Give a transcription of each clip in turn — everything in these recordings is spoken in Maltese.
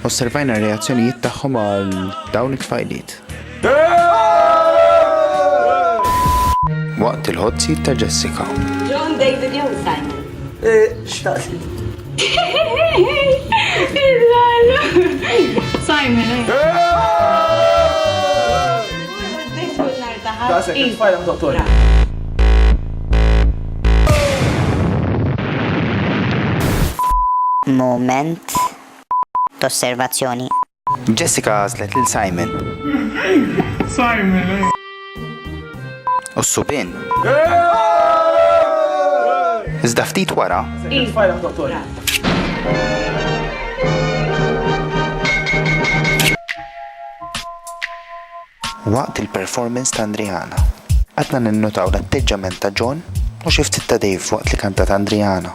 Osservajna r-reazzjonijiet tagħhom għal dawn it-tfajliet. Waqt il-ħodżijiet ta' Jessica. John David jew Simon. Eh, xtaqsi. Simon. Da se kif fajla dottor. Moment t'osservazzjoni. Jessica għażlet lil Simon. Simon! U s-subien. Iżda ftit wara. Waqt il-performance ta' Andriana. Għadna ninnotaw l-atteġġament ta' John u xi ftit ta' Dave waqt li kantat Andriana.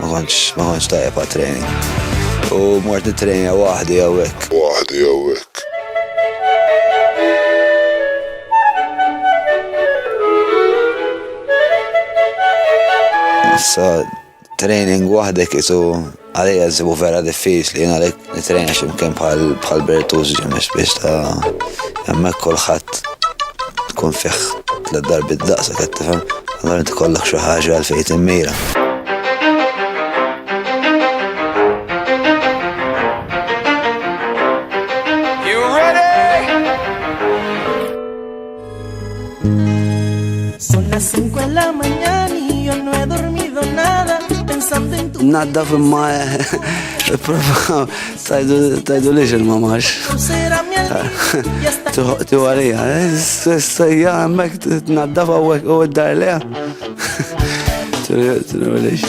Ma kontx ma kontx tajjeb għat-training. U mort nittrejna waħdi hawnhekk. Waħdi hawnhekk. Issa training waħdek isu għalija żibu vera diffiċli jien għalhekk Nitrejna x'imkien bħal Bertuzzi ġemiex biex ta' hemmhekk kulħadd tkun fih tliet darbi d-daqsa qed tifhem, allura inti kollok xi ħaġa għal fejn timmira. Naddaf imma prova tajdu liġ il-mamax. Tiħu għalija, s-sajja għemmek t-naddaf għawek u d-dar leja. Tiħu liġ.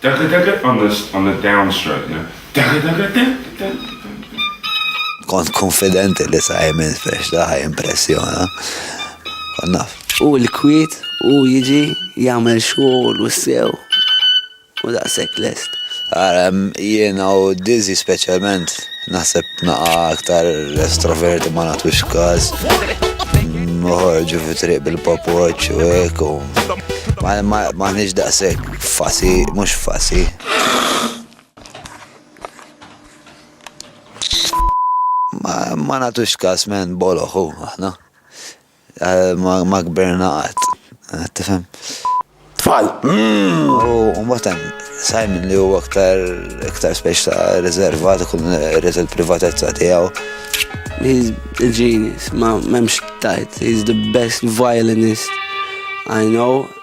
Dagadaga on the on the down stroke, you know. Dagadaga da da da da da. Kont konfidenti li Simon Festa ħaj impressjona. Kon naf. U l-kwiet u jiġi jagħmel xogħol u sew u daqshekk lest. Ara, jiena u Dizzy speċjalment naħseb naqa aktar estroverti ma natwix każ. Moħorġu fi triq bil-pop watch u hekk u ma nix daqshekk. Fasi, mhux fasi. Ma, ma natux kas men boloħu, aħna. Eh, ma, ma kberna għat. Eh, tifhem? Tfal. Mm. U mbagħad Simon li huwa aktar aktar speċ ta' riservat ikun irid il-privatezza tiegħu. He's a genius, ma memx tajt. He's the best violinist I know.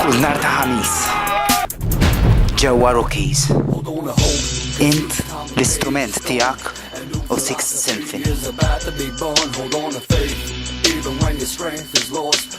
Kull nar ta' ħamis. Ġewwa Rookies. Int l-istrument tiegħek u Sixth Symphony. Even when your strength is lost,